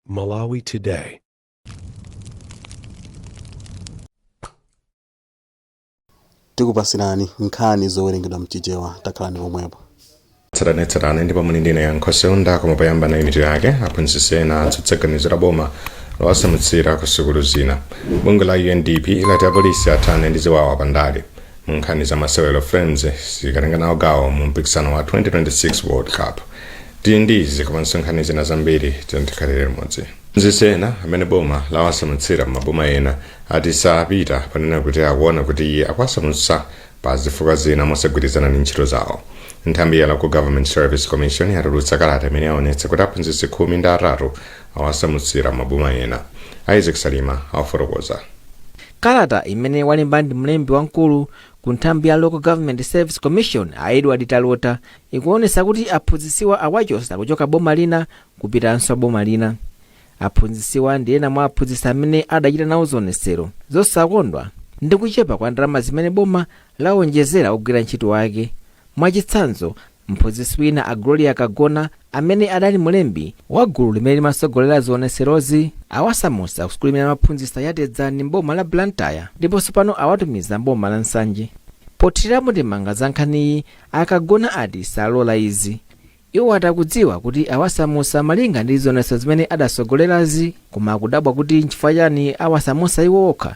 Malawi Today. tikupasirani nkhani zowerengedwa mchichewa takhalani pomwepo tsatanetsatane ndipo muli ndine Yankho Seunda koma poyamba nayi mitu yake aphunzitsi ena atsutsa ganizo la boma lowasamutsira ku sukulu zina bungwe la undp lati apolisi athane ndi ziwawa pandale munkhani za masewero flames sikatenga nawo gawo mu mpikisano wa 2026 world cup tili ndi izi komanso nkhani zina zambiri tikhalire limodzi aphunzitsi ena amene boma lawasamutsira m'maboma ena ati sapita panena kuti akuona kuti iye akuwasamutsa pa zifukwa zina mosagwirizana ndi ntchito zawo nthambi ya local government service commission yatulutsa kalata imene yaonetsa kuti aphunzitsi khumi ndi atatu awasamutsira m'maboma ena isaac salima afotokoza Kalata imene walemba ndi mlembi wamkulu ku nthambi ya Local Government Service Commission a Edward Talota ikuonetsa kuti aphunzitsiwa awachosa kuchoka boma lina kupitanso boma lina. Aphunzitsiwa ndi ena mwa aphunzitsi amene adachita nawo zionetsero zosakondwa ndi kuchepa kwa ndalama zimene boma lawonjezera ogwira ntchito wake. Mwachitsanzo, Mphunzitsi wina a Gloria Kagona amene adali mlembi wa gulu limene limatsogolera zionetserozi awasamutsa ku sukulu imene amaphunzitsa ya Tedzani m'boma la Blantyre ndiponso pano awatumiza m'boma la Nsanje. Pothirirapo ndemanga za nkhaniyi, a Kagona ati salola izi. Iwo ati akudziwa kuti awasamutsa malinga ndi zionetsero zimene adatsogolerazi koma akudabwa kuti nchifukwa chani awasamutsa iwo okha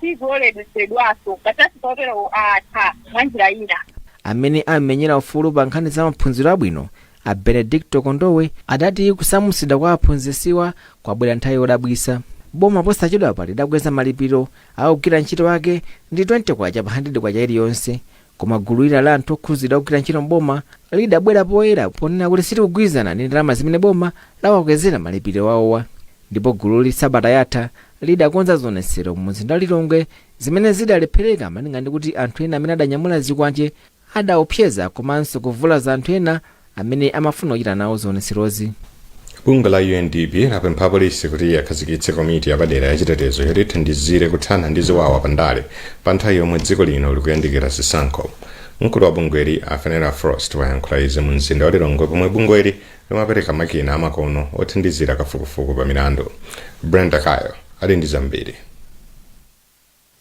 sizioledwetsedwaso. Machasiso oterowo atha mwa njira ina. Amene amamenyera ufulu pa nkhani za maphunziro abwino, a Benedicto Kondowe, adati kusamutsidwa kwa aphunzitsiwa kwabwera nthawi yodabwitsa. Boma posachedwapa lidakweza malipiro a ogwira ntchito ake ndi K20 pa K100 iliyonse, koma gulu lina la anthu okhudzidwa ogwira ntchito m'boma lidabwera poyera ponena kuti silikugwirizana ndi ndalama zimene boma lawakwezera malipiro awowo ndipo gululi sabata yatha lidakonza zionetsero mumzinda wa Lilongwe zimene zidalephereka malinga ndi kuti anthu ena amene adanyamula zikwanje adaopseza komanso kuvulaza anthu ena amene amafuna kuchita nawo zionetserozi. bungwe la undp lapempha apolisi kuti akhazikitse komiti yapadera yachitetezo yoti ithandizire kuthana ndi ziwawa pa ndale pa nthawi yomwe dziko lino likuyandikira zisankho mkulu wa bungweli a Fenella Frost wayankhula izi mu mzinda wa lilongwe pomwe bungweli limapereka makina amakono othandizira kafukufuku pa milandu. Brenda Kayo ali ndi zambiri.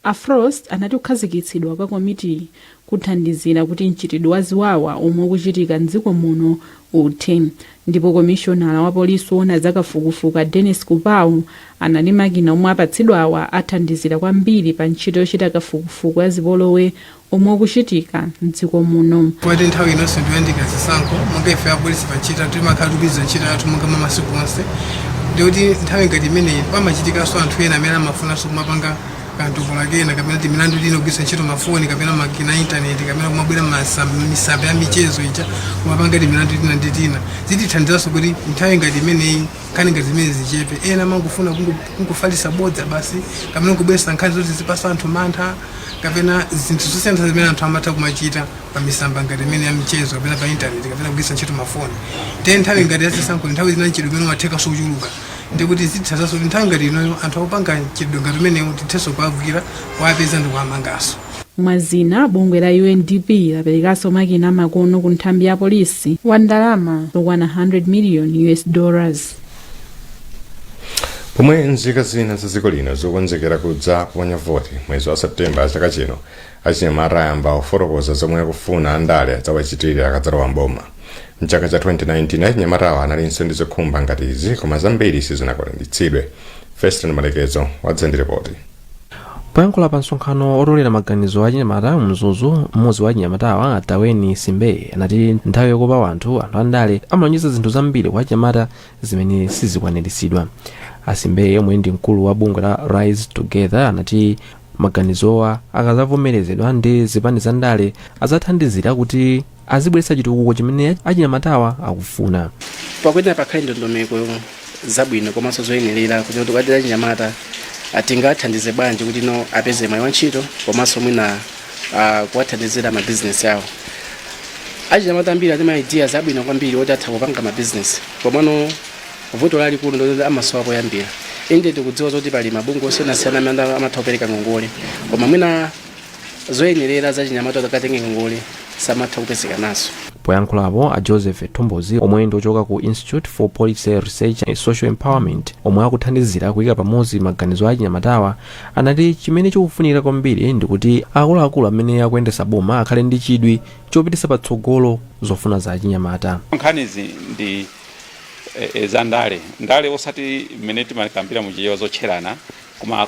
A Frost anati kukhazikitsidwa kwa komitiyi kuthandizira kuti mchitidwe wa ziwawa omwe ukuchitika m'dziko muno uthe ndipo komishonala wa polisi woona za kafukufuku a Dennis Kupau anati makina omwe apatsidwawa athandizira kwambiri pa ntchito yochita kafukufuku wa zipolowe omwe ukuchitika m'dziko muno. Poti nthawi inonso ndiyandikira zisankho monga ife apolisi pa ntchito timakhala tikugwira ntchito yathu monga mwa masiku onse ndikuti nthawi ngati imeneyi pamachitikanso anthu ena amene amafunanso kumapanga kantopola kena kapena timilandu tina kugwiritsa ntchito mafoni kapena makina a intaneti kapena kumabwera masa- misambo ya michezo ija kumapanga timilandu tina ndi tina zitithandizanso kuti nthawi ngati imeneyi nkhani ngati zimene zichepe ena amangofuna kungo- kungofalitsa bodza basi kapena kubweretsa nkhani zoti zipatsa anthu mantha kapena zinthu zosiyana zimene anthu amatha kumachita pa misamba ngati imene ya michezo kapena pa intaneti kapena kugwiritsa ntchito mafoni te nthawi ngati yazisankho nthawi zina mchitidwe umene umathekanso kuchuluka ndikuti zitithandizanso kuti nthawi ngati inoyo anthu akupanga mchitidwe ngati umenewu tithenso kuwagwira kuwapeza ndi kuwamanganso Mwa zina, bungwe la UNDP laperekanso makina amakono ku nthambi ya polisi wa ndalama zokwana 100 million US dollars. pomwe nzika zina za dziko lino zikukonzekera kudza kuponya voti mwezi wa septemba chaka chino achinyamata ayamba kufotokoza zomwe akufuna andale adzawachitire akadzalowa mboma mchaka cha 2019 achinyamatawa analinso ndi zokhumba ngati izi koma zambiri sizinakwaniritsidwe feston malekezo wadza ndi ripoti poyankhula pa msonkhano otolera maganizo achinyamata mzuzu mmodzi wa achinyamatawa ataweni simbeye anati nthawi yokopa anthu anthu andale amalonjeza zinthu zambiri kwa achinyamata zimene sizikwaniritsidwa asimbeye omwe ndi mkulu wa bungwe la rise together anati maganizowa akazavomerezedwa ndi zipani za ndale adzathandizira kuti azibweretsa chitukuko chimene achinyamatawa akufuna. pakuyenera kuti pakhale ndondomeko zabwino komanso zoyenerera kuti tikati achinyamata ah, tingathandize bwanji kuti no apeze mwayi wa ntchito komanso mwina ah, kuwathandizira mabizinesi awo achinyamata ambiri ali ndi ma ideas abwino kwambiri oti atha kupanga mabizinesi komano vuto lalikulu ndiloti amasowa poyambira inde tikudziwa zoti pali mabungwe osiyanasiyana amene amatha kupereka ngongole koma mwina zoyenerera zachinyamata akakatenge ngongole samatha kupezeka nazo poyankhulapo a joseph thombozi omwe ndi ochoka ku institute for policy research and social empowerment omwe akuthandizira kuyika pamodzi maganizo a achinyamatawa anati chimene chikufunika kwambiri ndikuti akuluakulu amene akuyendesa boma akhale ndi chidwi chopitisa patsogolo zofuna za achinyamata nkhanizi ndi e, e, za ndale ndale osati mmene timakambira muchichewa zotcherana koma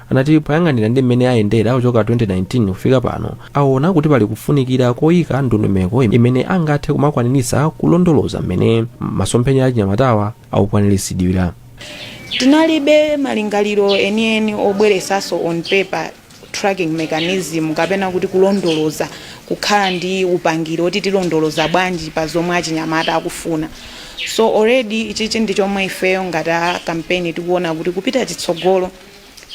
anati poyang'anira ndi mmene ayendera kuchoka 2019 kufika pano aona kuti pali kufunikira koyika ndondomeko imene angathe kumakwaniritsa kulondoloza mmene masomphenya achinyamatawa akukwaniritsidwira tinalibe malingaliro enieni obweresaso on paper tracking mechanism kapena kuti kulondoloza kukhala ndi upangiri oti tilondoloza bwanji pa zomwe achinyamata akufuna so already ichichi ndi chomwe ifeyo ngati a kampeni tikuona kuti kupita chitsogolo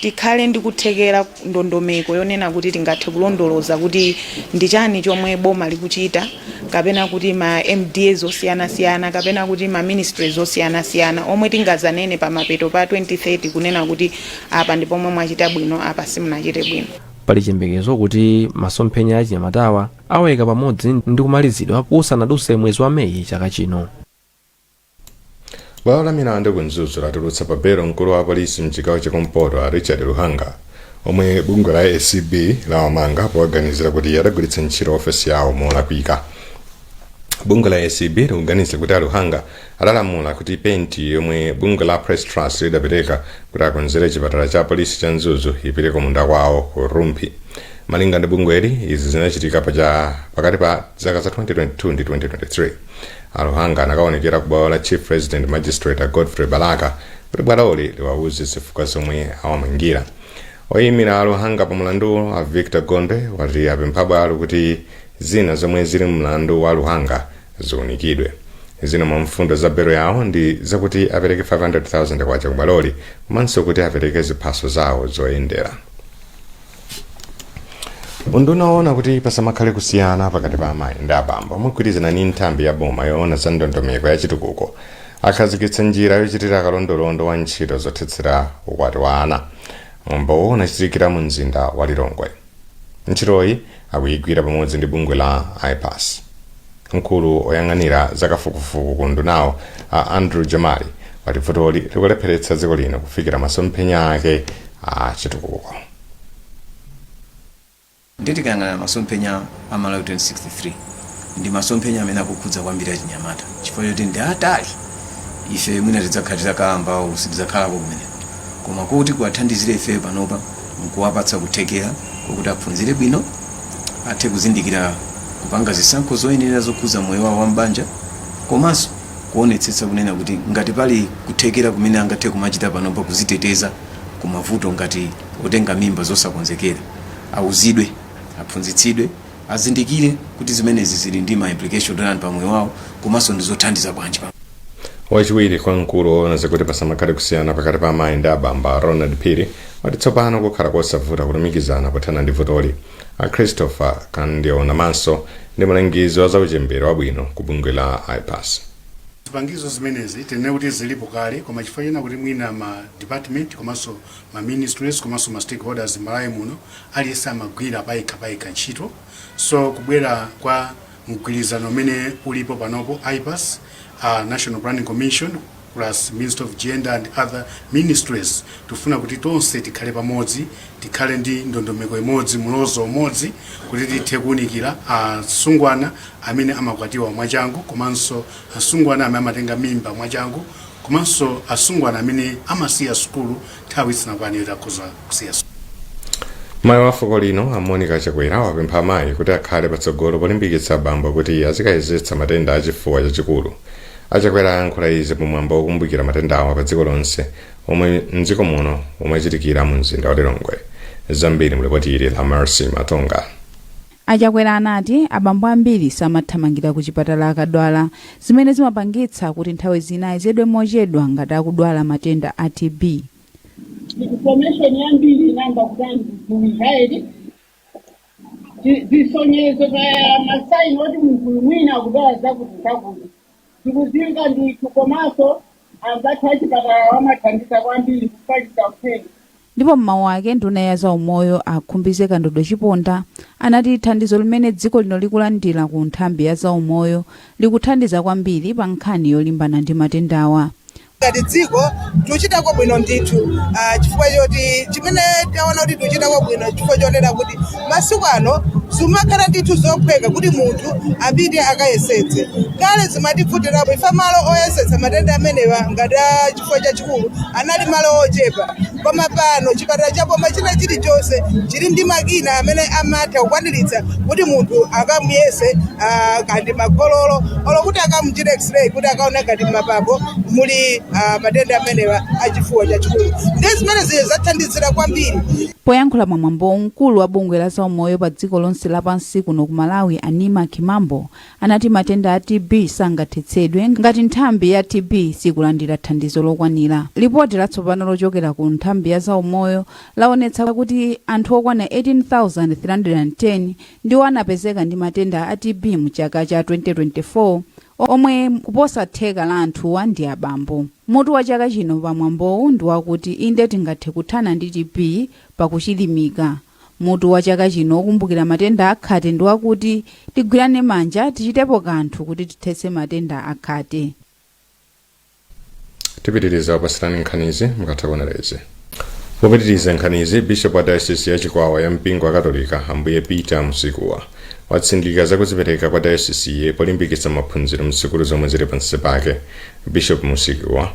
tikhale ndi kuthekera ndondomeko yonena kuti tingathe kulondoloza kuti ndi chani chomwe boma likuchita kapena kuti ma MDAs osiyanasiyana kapena kuti ma ministries osiyanasiyana omwe tingazanene pa mapeto pa 2030 kunena kuti apa ndi pomwe mwachita bwino apa simunachite bwino. Pali chiyembekezo kuti masomphenya achinyamatawa awaika pamodzi ndi kumalizidwa kusanadutse mwezi wa Meyi chaka chino. bwalo la milandu ku mzuzu latulutsa pa belo mkulu wa polisi mchigawo chakumpoto a richard luhanga omwe bungwe la acb lawamanga powaganizira kuti adagwiritsa ntchito ofesi yawo molakwika bungwe la acb likuganizira kuti a luhanga adalamula kuti penti yomwe bungwe la press trust lidapereka kuti akonzere chipatala cha polisi cha mzuzu ipite ku munda kwawo ku rumphi malinga ndi bungweli izi zinachitika pakati pa zaka za 2022 ndi 2023 A Luhanga anakaonekera ku bwalo la Chief Resident Magistrate a Godfrey Balaka kuti bwaloli liwauze zifukwa zomwe awamangira. Oyimira a Luhanga pa mulanduwo a Victor Gondwe ati apempha bwalo kuti zina zomwe zili mmulandu wa a Luhanga ziunikidwe. Zina mwa mfundo za belo yawo ndi zakuti apereke 500,000 kwacha ku bwaloli komanso kuti apereke ziphaso zawo zoyendera. unduna woona kuti pasamakhale kusiyana pakati pa amayi ndi abambo mogwirizana ndi nthambi ya boma yoona za ndondomeko ya chitukuko akhazikitsa njira yochitira kalondolondo wa ntchito zothetsera ukwati wa ana mwambowo unachitikira mu mzinda wa lilongwe ntchitoyi akuyigwira pamodzi ndi bungwe la ipas Mkulu oyang'anira za kafukufuku ku undunawu a Andrew Jamali wati vutoli likulepheretsa dziko lino kufikira masomphenya ake a chitukuko. Ndiye tikayang'ana masomphenya a Malawi 2063 ndi masomphenya amene akukhudza kwambiri achinyamata chifukwa choti ndi atali ife mwina tidzakhala titakalamba olo sitidzakhalako kumeneko koma kuti tiwathandizire ifeyo panopa nkuwapatsa kuthekera kokuti aphunzire bwino, athe kuzindikira kupanga zisankho zoyenerera zokhuza moyo wawo wa m'banja komanso kuonetsetsa kunena kuti ngati pali kuthekera kumene angathe kumachita panopa kuziteteza ku mavuto ngati otenga mimba zosakonzekera, auzidwe, aphunzitsidwe, azindikire kuti zimenezi zili ndi ma implication otani pa moyo wawo komanso ndizothandiza bwanji pa. wachiwiri kwa mkulu woona zakuti pasamakhale kusiyana pakati pa amayi ndi abambo a ronald phiri wati tsopano kukhala kosavuta kulumikizana pothana ndi vutoli a christopher kandionamaso ndi mlangizi wa zauchembere wabwino ku bungwe la ipas zipangizo zimenezi tinene kuti zilipo kale koma chifukwa chonena kuti mwina ma department komanso ma ministries komanso ma stakeholders malawi muno aliyense amagwira payekha payekha ntchito so kubwera kwa mgwirizano umene ulipo panopo IPAS, a National Planning Commission plus Ministry of Gender and other ministries tufuna kuti tonse tikhale pamodzi, tikhale ndi ndondomeko imodzi, mlozo umodzi kuti tithe kuunikira asungwana amene amakwatiwa mwachangu komanso asungwana amene amatenga mimba mwachangu komanso asungwana amene amasiya sukulu nthawi isanakwane yoti akhoza kusiya sukulu Mayi wa fuko lino a Monica Chakwera wapempha amayi kuti akhale patsogolo polimbikitsa abambo kuti azikayezetsa matenda a chifuwa chachikulu. A Chakwera ayankhula izi pa mwambo wokumbukira matendawa pa dziko lonse omwe mdziko muno umachitikira mu mzinda wa Lilongwe. Zambiri mu lipoti ili la Mercy Matonga. A Chakwera anati abambo ambiri samathamangira ku chipatala akadwala, zimene zimapangitsa kuti nthawi zina ayezedwe mochedwa ngati akudwala matenda a TB. Information yambiri inayamba kudandiuza eti zisonyezo kaya masaini oti munthu uyu mwina akudwala zakuti zakuti Zikudziwika ndithu komanso anzathu achipatalawa amathandiza kwambiri kufalitsa uthenga. Ndipo m'mawu ake nduna ya za umoyo a Khumbize Kandodo Chiponda anati thandizo limene dziko lino likulandira ku nthambi ya za umoyo likuthandiza kwambiri pa nkhani yolimbana ndi matendawa. Ngati dziko tuchitako bwino ndithu ah, chifukwa choti chimene taona kuti tuchitako bwino chifukwa chonena kuti masiku ano zimakhala ndithu zophweka kuti munthu apite akayezetse kale zimativutirapo ifa malo oyezetsa matenda amenewa ngati a chifuwa chachikulu anali malo ochepa koma pano chipatala cha boma china chilichonse chili ndi makina amene amatha kukwaniritsa kuti munthu akamuyeze ah, kandi makhololo olo kuti akamuchite x-ray kuti akaone ngati m'mapapo muli ah, matenda amenewa a chifuwa chachikulu ndiye zimene zili zathandizira kwambiri poyankhula pamwambo mkulu wa bungwe la zaumoyo pa dziko lonse lapansi kuno ku Malawi a Neema Kimambo anati matenda a TB sangathetsedwe ngati nthambi ya TB sikulandira thandizo lokwanira. Lipoti latsopano lochokera ku nthambi ya zaumoyo laonetsa kuti anthu okwana 18,310 ndiwo anapezeka ndi matenda a TB mu chaka cha 2024 omwe kuposa theka la anthuwa ndi abambo. Mutu wa chaka chino pa mwambowu ndi wakuti Inde Tingathe Kuthana ndi TB pakuchilimika. Mutu wa chaka chino wokumbukira matenda a khate ndi wakuti Tigwirane manja, tichitepo kanthu kuti tithetse matenda a khate. Tipitiriza kupatsirani nkhanizi mukatha kuonera izi. Popitiriza nkhanizi, Bishop wa Diocese ya Chikwawa ya mpingo wa Katolika Ambuye Peter Musikuwa watsindika za kudzipereka kwa Diocese-yi polimbikitsa maphunziro msukulu zomwe zili pansi pake. Bishop Musikuwa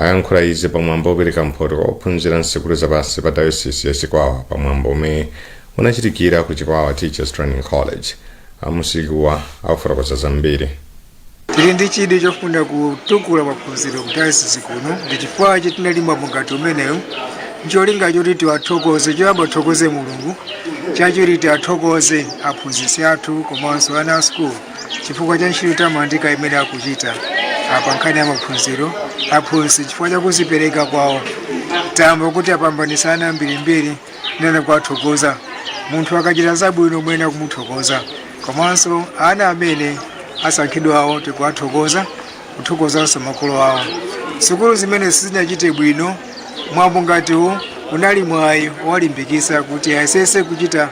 ayankhula izi pa mwambo opereka mphoto kwa ophunzira msukulu za pansi pa dayosizi ya Chikwawa pa mwambo omwe unachitikira ku Chikwawa Teachers Training College. A Musikuwa akufotokoza zambiri. Tili ndi chidwi chofuna kutukula maphunziro ku dayosizi kuno ndi chifukwa che tinali mwambo ngati umenewu ncholinga choti tiwathokoze choyamba tithokoze mulungu chachiwiri tiwathokoze aphunzitsi athu komanso ana a sukulu chifukwa cha ntchito yotamandika imene akuchita pa nkhani ya maphunziro aphunzitsi chifukwa cha kuzipereka kwawo tamva kuti apambanisa ana ambirimbiri ndiye kuwathokoza munthu akachita zabwino mumayenera kumuthokoza komanso ana amene asankhidwawo tikuwathokoza kuthokozanso makolo awo sukulu zimene sizinachite bwino mwambo ngati uwu unali mwayi wowalimbikisa kuti ayesese kuchita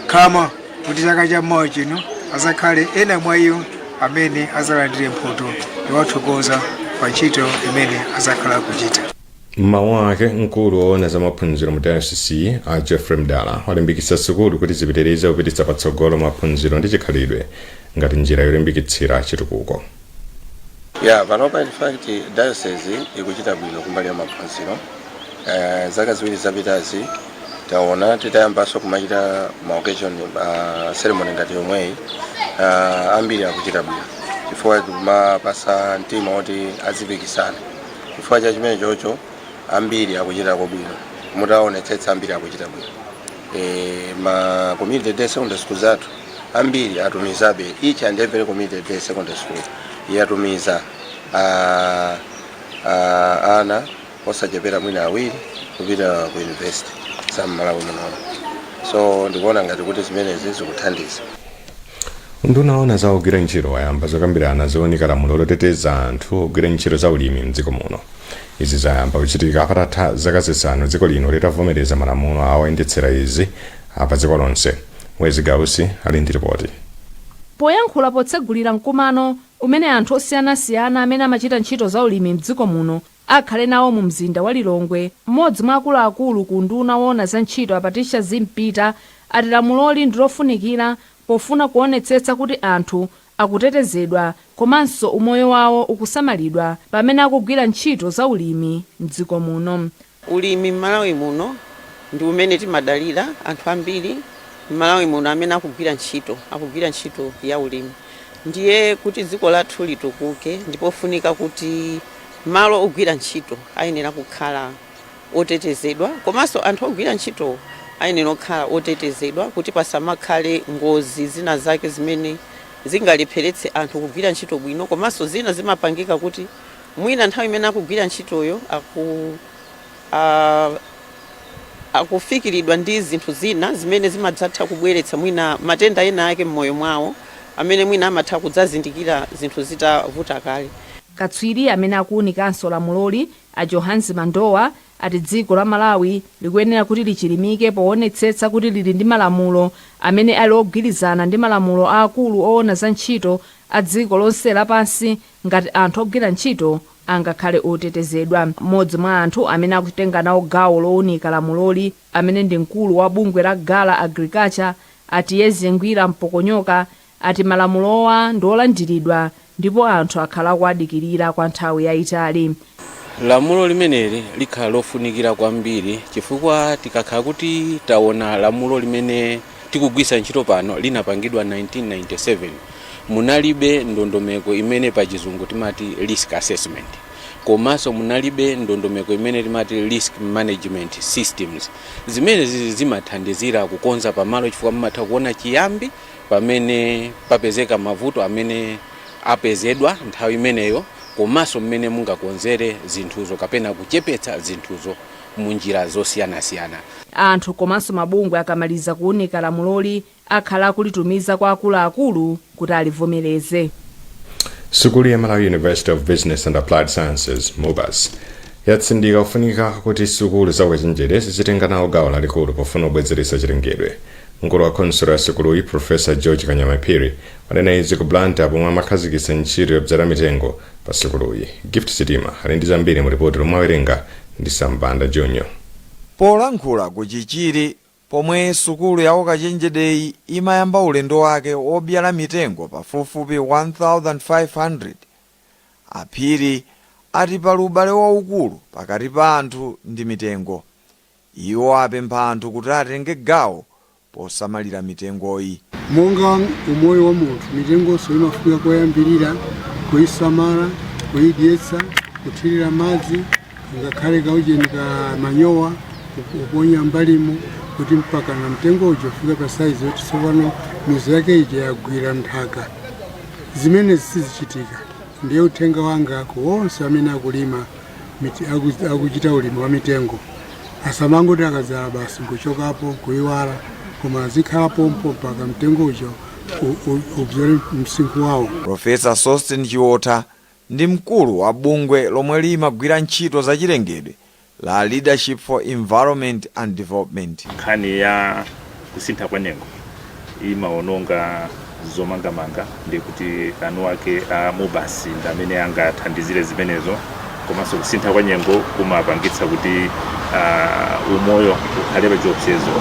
khama kuti chaka cha mawa chino azakhale ena mwa iwo amene azalandire mphoto yowathokoza pa ntchito imene azakhale akuchita mmawu ake mkulu woona za maphunziro mu dayosisi a geoffrey mdala walimbikitsa sukulu kuti zipitirize kupititsa patsogolo maphunziro ndi chikhalidwe ngati njira yolimbikitsira chitukuko ya panopa in fact diocese ikuchita bwino kumbali ya maphunziro uh, zaka ziwiri zapitazi taona titayambanso kumachita maoccasion uh, ceremony ngati yomweyi uh, ambiri akuchita bwino chifukwa tikumawapasa mtima woti azipikisana chifukwa cha chimenechocho ambiri akuchitako bwino mutaonetsetsa ambiri akuchita bwino Eh, ma community day secondary school zathu ambiri atumizabe each and every community day secondary school yatumiza ah, ah, ana osachepera mwina awiri kupita ku university za mmalawi muno so ndikuona ngati kuti zimenezi zikuthandiza Unduna woona za ogwira ntchito wayamba zokambirana zowunika lamulo loteteza anthu ogwira ntchito za ulimi m'dziko muno. Izi zayamba kuchitika patatha zaka zisanu dziko lino litavomereza malamulo oyendetsera izi a pa dziko lonse. Wezzie Gausi ali ndi lipoti. Poyankhula potsegulira mkumano umene anthu osiyanasiyana amene amachita ntchito za ulimi m'dziko muno akhala nawo mu mzinda wa Lilongwe. M'modzi mwa akuluakulu ku unduna woona za ntchito a Patricia Zimpita ati lamuloli ndi lofunikira pofuna kuonetsetsa kuti anthu akutetezedwa komanso umoyo wawo ukusamalidwa pamene akugwira ntchito za ulimi m'dziko muno. Ulimi m'Malawi muno ndi umene timadalira, anthu ambiri m'Malawi muno amene akugwira ntchito, akugwira ntchito ya ulimi ndiye kuti dziko lathu litukuke ndi pofunika kuti. Malo ogwira ntchito ayenera kukhala otetezedwa komanso anthu ogwira ntchitowo ayenera kukhala otetezedwa kuti pasamakhale ngozi zina zake zimene zingalepheretse anthu kugwira ntchito bwino komanso zina zimapangika kuti mwina nthawi imene akugwira ntchitoyo aku, a, akufikiridwa ndi zinthu zina zimene zimadzatha kubweretsa mwina matenda ena ake m'moyo mwawo amene mwina amatha kudzazindikira zinthu zitavuta kale. Katswiri amene akuunikanso lamuloli, a Johannes Mandowa, ati dziko la Malawi likuyenera kuti lichilimike poonetsetsa kuti lili ndi malamulo amene ali ogwirizana ndi malamulo a akulu oona za ntchito a dziko lonse lapansi ngati anthu ogwira ntchito angakhale otetezedwa. M'modzi mwa anthu amene akutenga nawo gawo lounika lamuloli, amene ndi mkulu wa bungwe la Gala Agriculture, a Tiyeze Ngwira Mpokonyoka, ati malamulowa ndi olandiridwa ndipo anthu akhala akuwadikirira kwa nthawi yaitali. Lamulo limeneli likhala lofunikira kwambiri chifukwa tikakhala kuti tawona lamulo limene tikugwiritsa ntchito pano linapangidwa 1997, munalibe ndondomeko imene pachizungu timati risk assessment komanso munalibe ndondomeko imene timati risk management systems. Zimenezi zimathandizira kukonza pamalo chifukwa mumatha kuwona chiyambi pamene papezeka mavuto amene apezedwa nthawi imeneyo komanso mmene mungakonzere zinthuzo kapena kuchepetsa zinthuzo mu njira zosiyanasiyana. Anthu komanso mabungwe akamaliza kuunika lamuloli akhala akulitumiza kwa akuluakulu kuti alivomereze. Sukulu ya Malawi University of Business and Applied Sciences, MUBAS, yatsindika kufunika kuti sukulu za ukachenjede zizitenga nawo gawo lalikulu pofuna kubwezeretsa chilengedwe. mkulu wa khonsolo ya sukuluyi profesa george kanyamaphiri wanena izi ku blantyre pomwe amakhazikitsa ntchito yodzala mitengo pa sukuluyi gift sitima ali ndi zambiri mu ripoti lomwe awerenga ndi sam banda junior polankhula ku chichiri pomwe sukulu ya ukachenjedeyi imayamba ulendo wake wobyala mitengo pafupifupi 1500 a phiri ati pali ubale waukulu pakati pa anthu ndi mitengo Iwo apempha anthu kuti atenge gawo posamalira mitengoyi. Monga umoyo wa munthu, mitengonso imafunika koyambirira kuisamala, kuidyetsa, kuthirira madzi, ngakhale kaujeni ka manyowa kuponya m'mbalimo kuti mpakana mtengo uja ufika pa saizi yoti tsopano mizu yake ija yagwira nthaka. Zimenezi sizichitika. Ndiye uthenga wanga ku onse amene akulima akuchita ulimi wa mitengo asamangoti akadzala basi nkuchokapo nkuiwala koma azikhala pompo mpaka mtengo uja ubzole msinkhu wawo profesa sosten chiwotha ndi mkulu wa bungwe lomwe limagwira ntchito zachilengedwe la leadership for environment and development nkhani ya kusintha kwa nyengo imaononga zomangamanga ndiye kuti anu ake a MUBAS ndi amene angathandizire zimenezo komanso kusintha kwa nyengo kumapangitsa kuti uh, umoyo ukhale pa chiopsezo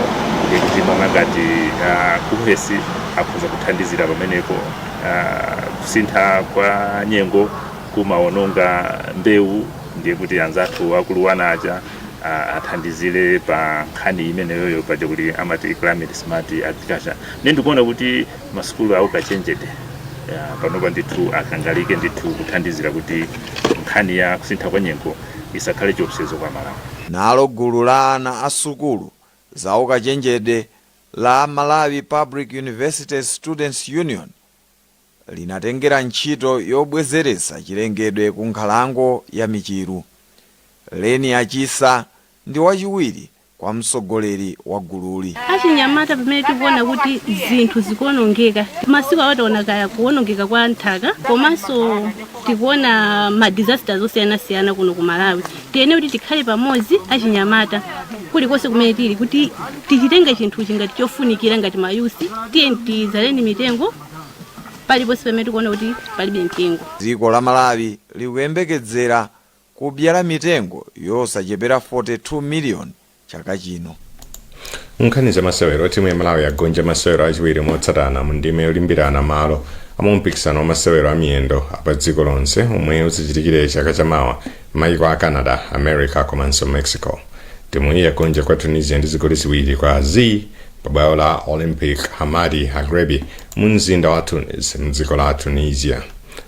ndiye kuti monga ngati uh, KUHeS akhoza kuthandizira pamenepo uh, kusintha kwa nyengo kumaononga mbewu ndiye kuti anzathu aku LUANAR aja ah, athandizire pa nkhani imeneyoyo paja kuti amati climate smart agriculture nde ndikuona kuti masukulu aukachenjede ah, panopa ndithu akangalike ndithu kuthandizira kuti nkhani ya kusintha kwa nyengo isakhale chiopsezo kwa malawi Nalo gulu la ana a sukulu za ukachenjede la Malawi Public Universities Students Union, linatengera ntchito yobwezeretsa chilengedwe ku nkhalango ya Michiru. Leni Achisa ndi wachiwiri kwa mtsogoleri wa gululi. Achinyamata pamene tikuona kuti zinthu zikuonongeka, masiku awa taona kaya kuonongeka kwa nthaka komanso tikuona ma disasters osiyanasiyana kuno ku Malawi. Tiyene kuti tikhale pamodzi achinyamata kulikonse kumene tili kuti tichitenge chinthuchi ngati chofunikira ngati mayusi, tiye tidzaleni mitengo. paliponse pamene tikuona kuti palibe mitengo. Dziko la Malawi likuyembekezera kubyala mitengo yosachepera 42 million chaka chino. Nkhani za masewero timu ya Malawi yagonja masewero achiwiri motsatana mu ndime yolimbirana malo a mumpikisano wa masewero a miyendo apa dziko lonse omwe uzichitikire chaka chamawa mmayiko a Canada, America komanso Mexico. Timu iyi yagonja kwa Tunisia ndi zigoli ziwiri kwa zii Pa bwalo la Olympic Hamadi Agrebi mu mzinda wa Tunis mdziko la Tunisia.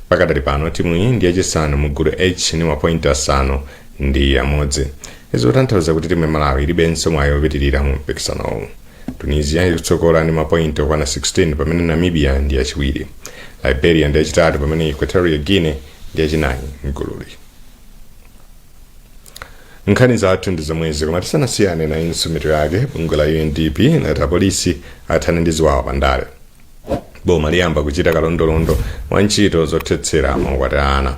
Pakadali pano timuyi ndi yachisanu mu gulu H ndi mapointi asanu ndi amodzi. Izi zikutanthauza kuti timu ya Malawi ilibenso mwayi wopitirira mu mpikisanowu. Tunisia ikutsogola ndi mapointi okwana 16 pamene Namibia ndi yachiwiri. Liberia ndi yachitatu pamene Equatorial Guinea ndi yachinayi mgululi. nkhani zathu ndi zomwezi koma tisanasiyane nayinso mitu yake bungwe la undp lati apolisi athane ndi ziwawa pa ndale boma liyamba kuchita kalondolondo wa ntchito zothetsera maukwati a ana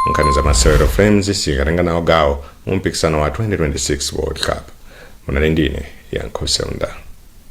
nkhani za masewero flames sikatenga nawo gawo mu mpikisano wa 2026 world cup munali ndine yankho seunda